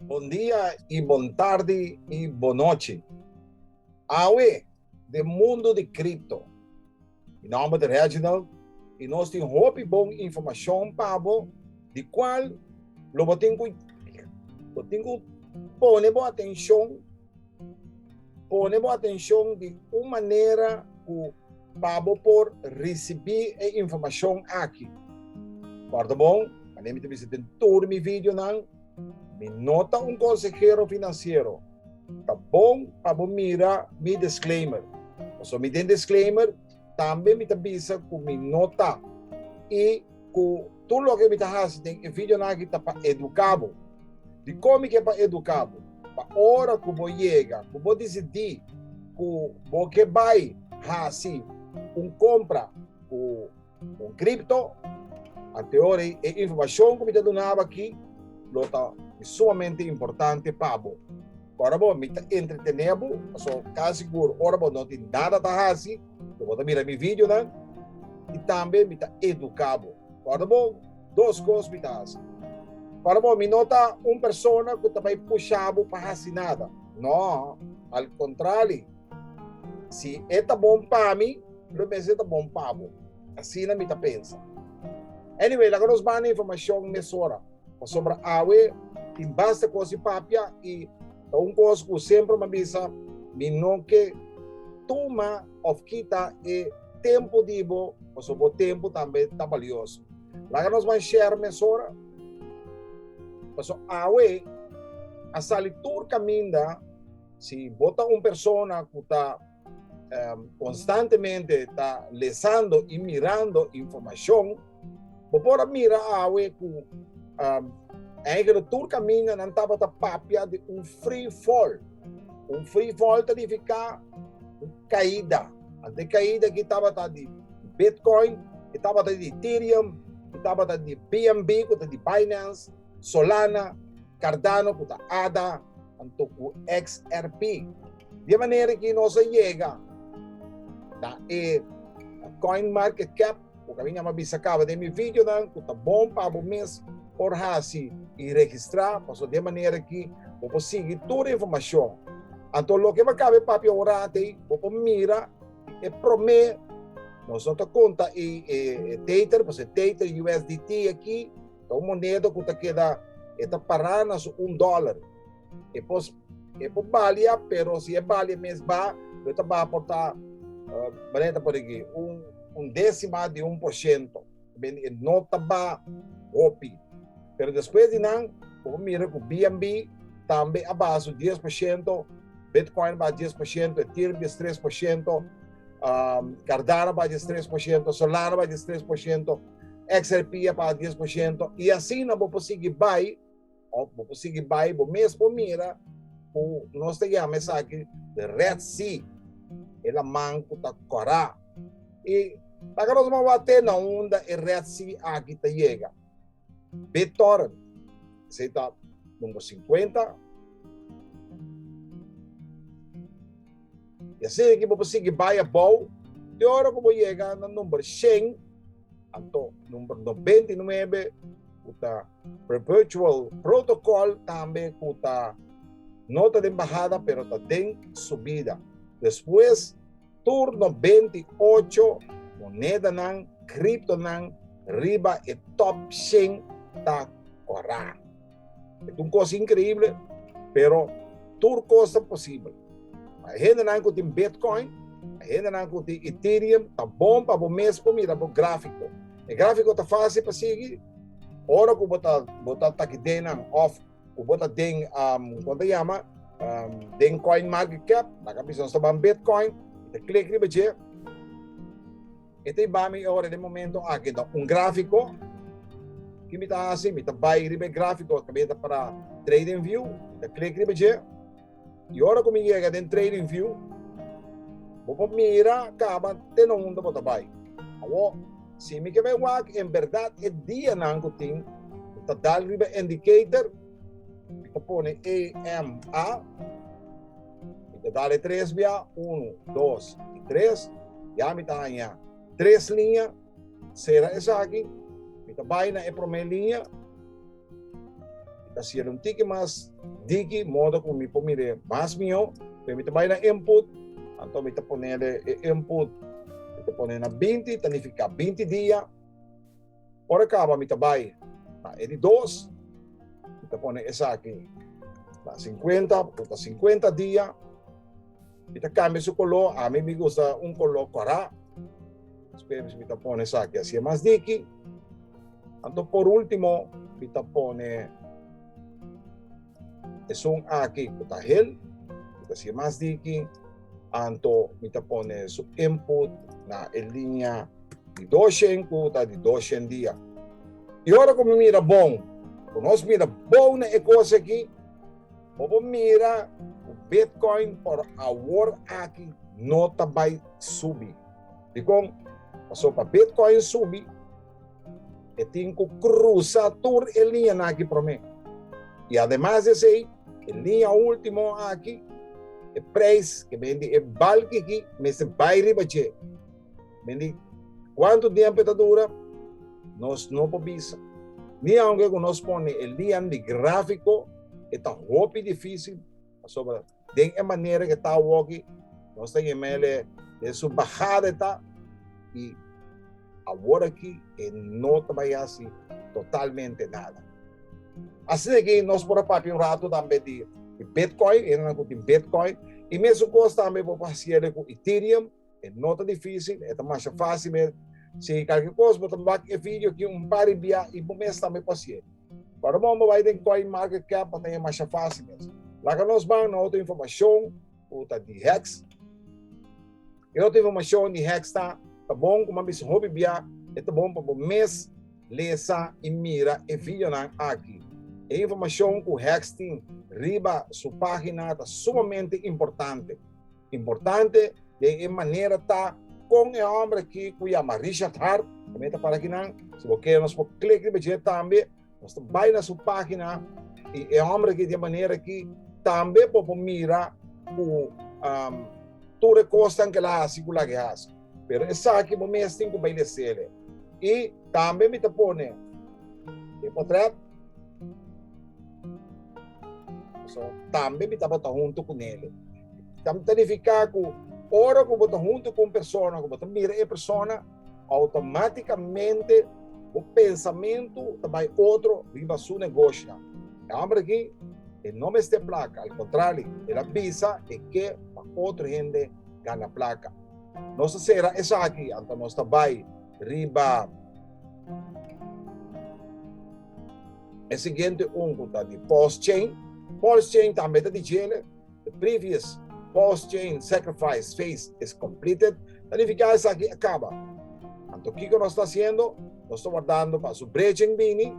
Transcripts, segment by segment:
Bon dia y bon tardi y bon nochi. Awe den mundo di cripto. Mi nomber ta Reginald y nos tin hopi bon informacion pa bo di cual lo bo tin cu pone bo atencion. Pone bo atencion di un manera cu pa bo por ricibi e informacion aki. Corda bon, wanneer mi ta bisa den tur mi videonan, mi no ta un consehero financiero. Ta bon pa bo mira mi disclaimer. Pasobra mi den disclaimer tambe mi ta bisa cu mi no ta y cu. Tur loke mi ta hasi den e videonan aki ta pa eduka bo. Di komi ke pa eduka bo? Pa ora ku bo yega ku bo disidí ku bo ke bai hasi un kompra ku un kripto, anteori e informashon ku mi ta duna bo aki lo ta di sumamente importante pa bo. Ora bo mi ta entretené bo, pasobra mi ta kasi sigur ora bo no tin nada ta hasi, Bo por ta mira mi videonan i tambe mi ta eduká bo. Kòrda bo dos kos mi ta hasi. Kòrda bo, mi no ta un persona ku ta bai pushá bo pa hasi nada. Nò, al kontrali, si e ta bon pa mi, lo mes e ta bon pa bo. Asina mi ta pensa. Anyway, laga nos banda informashon mesora, pasobra awe tin basta kos di papia i Ta un kos ku semper mi a bisa, mi no ke tuma òf kita e tempu di bo, pasobra bo tempu tambe ta balioso. Laga nos bai shèra mesora, pasobra awe a sali tur kaminda. Si bo ta un persona ku ta. konstantemente ta lesando i mirando informashon, bo por a mira awe ku eigero tur kamindanan tabata papia di un free fall. Un free fall ta nifiká un kaida. Ant e kaida aki tabata di Bitcoin, e tabata di Ethereum, e tabata di BNB ku ta di Binance, Solana, Cardano cu ta ada anto cu XRP. Di e manera aki nos a yega na e coin market cap cu a bin a bisa caba den mi videonan cu ta bon pa bo mes por haci y registra pasobra di e manera aki bo por sigui tur e informacion. Anto loke bo a caba e papia awor-antey bo por mira e prome, nos no ta conta e tether pasobra e tether, USDT aki, Ta un moneda ku ta keda e ta pará na su un dólar. E pos e por balia, pero si e balia mes ba, lo ta ba por ta uh, maneta por aquí, un, un décima de un por ciento. Ben, e no ta ba hopi. Pero después di nan, por mira ku BNB tambe a ba su 10%, Bitcoin ba 10%, Ethereum 3%, um, Cardano ba 3%, Solana ba 3%, XRP a paga dies por shento i asina bo por sigui bai òf bo por sigui bai bo mes por mira ku nos ta yama esaki di Red Sea e laman ku ta kòrá i taka nos maba te na unda e Red Sea aki ta yega BitTorrent esei ta numero singkuenta. I asina di ki bo por sigui bai abou te ora ku bo yega na number shen anto number nobenta i nuebe ku ta perpetual protokòl tambe ku ta no ta den bahada pero ta den subida. Despues tur nobenta i ocho monedanan kriptonan riba e tòp shen ta kòrá. Eta un kos inkreible, pero tur kos ta posibel. Pa e hendenan ku tin Bitcoin, pa e hendenan ku tin Ethereum, ta bon pa bo mes por mira bo gráfiko. E gráfiko ta fásil pa sigui ora ku bo ta bo ta taki den nan òf ku bo ta den um kon ta yama um den Coinmarketcap, laga a bisa nos ta ban Bitcoin, ta klik riba dje. E ta iba mi ora den momento aki to. Un grafiko, ki mi ta hasi? Mi ta bai riba e grafiko ku mi ta para Trading View, mi ta klik riba dje. I ora ku mi yega den Trading View, bo por mira kaba te na unda bo ta bai. Awo, si mi ke bai wak en bèrdat e dianan ku tin, mi ta dal riba Indicator, mi ta pone EMA. Mi ta dal e tres bia, unu, dos i tres. Ya mi ta haña tres liña. Sera esaki. Mi ta bai na e promé liña. Mi ta sia'l un tiki mas diki modo ku mi por mir'é mas mihó. P'e mi ta bai na input, anto mi ta ponel e input. Mi ta pone na binti, ta nifiká binti dia. Ora kaba mi ta bai na e di dos, mi ta pone esaki na sinkuenta, pasobra ta sinkuenta dia, mi ta kambia su koló, ami mi gusta un koló kòrá, despues mi ta pone esaki asi e mas diki, anto por último mi ta pone esun aki ku ta hel, asi e mas diki. Anto mi ta pone su input na e linia di doshen ku ta di doshen dia. I ora ku mi mira bon, ku nos mira bon na e kos aki, bo por mira ku bitcoin por awor aki no ta bai subi. Dikon? Pasobra bitcoin subi. E tin ku krusa tur e liñanan akí promé. I ademas di esei, e liña último akí, e preis ku bini di e bal kikí mester bai riba dje. Bini di kuantu tiempu e ta dura nos no por bisa. Ni aunke ku nos pone e liñanan di gráfiko e ta hopi difísil pasobra. Den e manera ke ta awo aki, nos ta yama el e, den su bahada e ta, i awor aki e no ta bai hasi totalmente nada. Asina ke nos por a papia un ratu tambe di bitcoin, e hende ku tin bitcoin, i mesukos tambe bo por hasiel ku ethereum, E no ta difícil, e ta masha fácil med. Si kalke kos bo ta bak e video ki un par ribia i bo mes tambe pa hasié. Pa Ramon bo bai den Coinmarketcap pa tené masha fácil mes. Laga nos ban na otro informashon ku ta di hex. E otro informashon di hex ta, ta bon ku bo a bisa hopi bia, e ta bon pa bo mes lesa i mira e videonan aki. E informashon ku hex tin riba su página ta sumamente importante. Importante den e manera ta kon e hombre aki ku yama Richard Hart, ta meta para kinan, si bo kere nos por klik riba dje tambe, nos ta bai na su pagina i e hombre aki den manera aki tambe bo por mira ku um tur e kosnan ku el a hasi ku lak e hasi. Pero esaki bo mes tin ku bai desele. I tambe mi ta pone e potrèt so tambe mi tabata huntu ku nele. Ta nifiká ku ora ku bo ta huntu ku un persona, ku bo ta mira e persona, outomátikamente bo pensamentu ta bai otro riba su negoshi nan. E hòmber aki e no mester plaka, al kontrali, el a bisa e ke pa otro hende gana plaka. Nos a sera esaki, anto nos ta bai riba e siguiente un cu ta di pulse chain. Pulse chain tambe ta di djele. The previous pulse chain sacrifice phase is completed. Ta nifica esaki a caba. Anto kico nos ta haciendo? Nos ta wardando pa su brechen bini.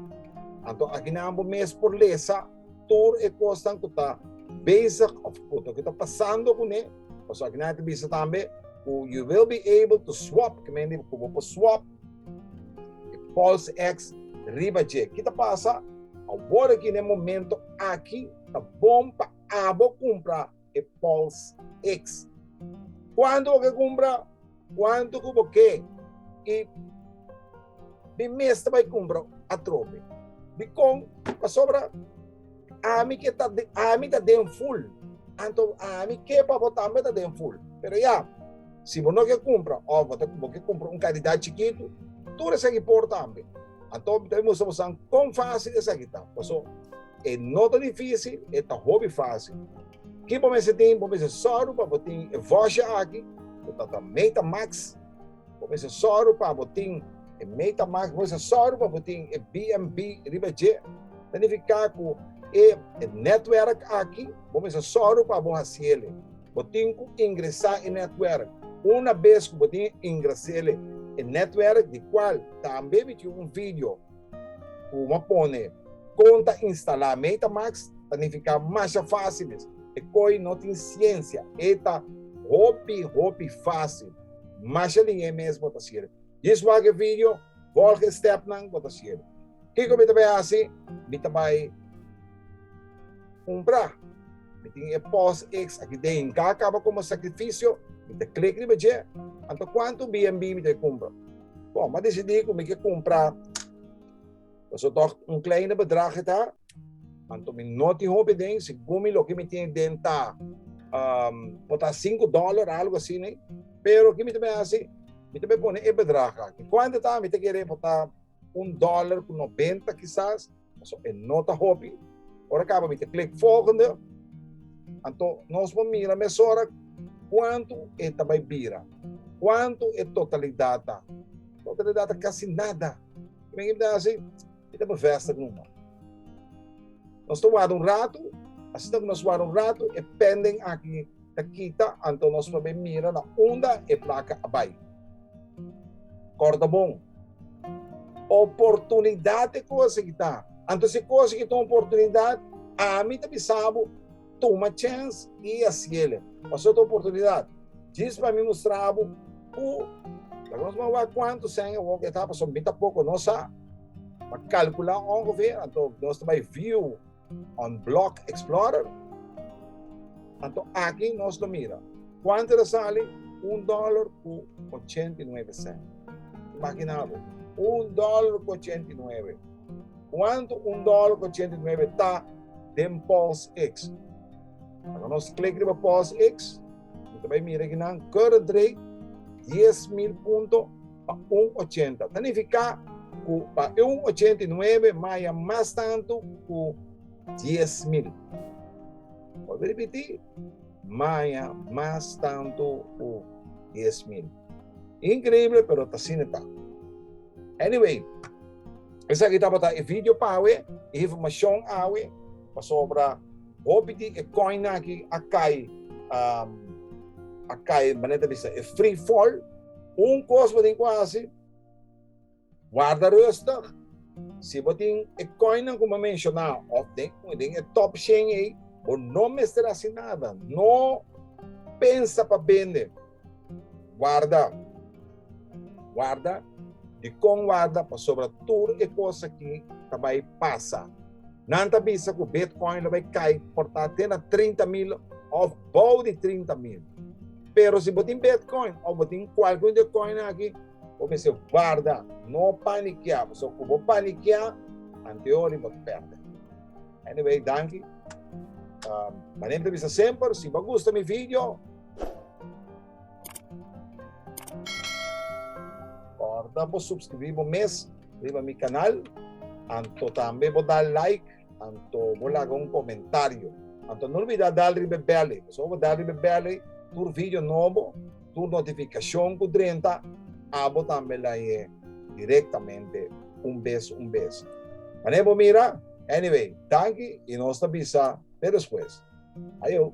Anto aki nan bo mes por lesa. tur e kosnan ku ta bezig of ku loke ta pasando kuné, pasobra aki nan e ta bisa tambe ku you will be able to swap, ke men di ku bo por swap e false ex riba dje. Ki ta pasa? Awor aki na e momento aki ta bon pa abo kumpra e Pulse X. Cuanto bo ke cumpra, cuanto cu bo ke y mi mes ta bay cumpra atrobe. Dicon? Pasobra ami ke ta den, ami ta den full, anto ami ke pa bo tambe ta den full. Pero ya, si bo no ke cumpra of bo ta, bo ke cumpra un cantidad chikitu, tur esaki por tambe. Anto mi ta bay mustra boso con facil esaki ta. Paso. E no ta difícil, e ta hopi fácil. Ki bo mester tin? Bo mester sòru pa bo tin e vòsha aki ku ta ta MetaMax. Bo mester sòru pa bo tin e MetaMax, bo mester sòru pa bo tin e BNB riba dje. Ta nifiká ku e e netwèrk aki bo mester sòru pa bo hasiel. Bo tin ku ingresá e netwèrk. Una bes ku bo tin ingresel e netwèrk, di kual tambe mi tin un video. Kuma pone kon ta instalá Metamax ta nifiká masha fásiles. E koi no tin siensia, e ta hopi hopi fásil. Masha liñ'é mes bo ta sirbi. Djis wak e vidio, vòlg e stèpnan, bo ta sirbi. Kiko mi ta bai hasi? Mi ta bai kumprá. Mi tin e POSx aki den. Ka kaba komo sakrifisio, mi ta klik riba dje. Anto kuantu BNB mi ta bai kumpra? Bon, m'a decidí ku mi ke kumpra, pasobra un kleine bedrag e ta, anto mi no tin hopi aden. Segun mi loke mi tin aden ta por ta sinku dòler, algu asina. Pero ke mi ta bin hasi? Mi ta bin pone e bedrag aki. Kuantu e ta? Mi ta kere por ta un dòler ku nobenta kisas. So, e no ta hopi. Ora kaba mi te klik volgende. Anto, nos por mira mesora kuantu e ta bai bira. Kuantu e totalidat ta. Totalidat ta kasi nada. Men i ta hasi, i ta bevesta ku no. Nos ta warda un ratu, asina ku nos warda un ratu, e pending aki ta kita, anto nos probe mira na unda e plaka a bai. Kòrda bon, oportunidat e kos aki ta. Anto si e kos aki ta un oportunidat, ami ta bisa bo, tuma chèns i hasiel. Pasobra ta un oportunidat. Djis pa mi mustra bo ku laga nos bai wak kuantu sèn e wòk etá, pasobra mi ta poko. Nos a kalkulá ongevè, anto nos ta bai viu. On Block Explorer. Anto aki nos lo mira cuanto ta sali un dollar cu ochenta y nuebe cent. Imagina bo, un dollar cu ochenta y nuebe. Cuanto un dollar cu ochenta y nuebe ta den PulseX? Ora nos clic riba PulseX, nos ta bay mira aki nan current rate dies mil punto. pa un ochenta. Ta nifiká ku pa e un ochenta i nuebe maya mas tantu ku dies mil. Por ripití, maya mas tantu ku dies mil. Inkreible, pero ta asina ta. Anyway, esaki tabata e vidio pa awe, e informashon awe, pasobra hopi di e kòin aki a kai, a kai manera ta bisa e free fall. Un kos bo tin ku hasi, warda rustug. Si bo tin e kòinnan ku bo menshoná òf den e tòp shen ei, bo no mester hasi nada. No pensa pa bende. Warda. Warda. Dikon warda? Pasobra tur e kos akí ta bai pasa. Nan ta bisa ku Bitcoin lo bai kai por ta te na trinta mil òf bou di trinta mil. Pero si bo tin Bitcoin òf bo tin kualke un di e koin aki, bo mester warda, no panikiá, pasobra ku bo panikiá, anteori bo ta pèrdè. Anyway, danki. Mané mi ta bisa semper, si bo gusta mi video. Porta bo subscribí bo mes riba mi canal anto tambe bo dal like anto bo laga un comentario anto no olbida dal riba e bell ei pasobra bo dal riba e bell ei tur video nobo tur notificacion cu drenta abo tambe la yé directamente un bes un bes manera bo mira anyway tanki y nos ta bisa te despues ayo.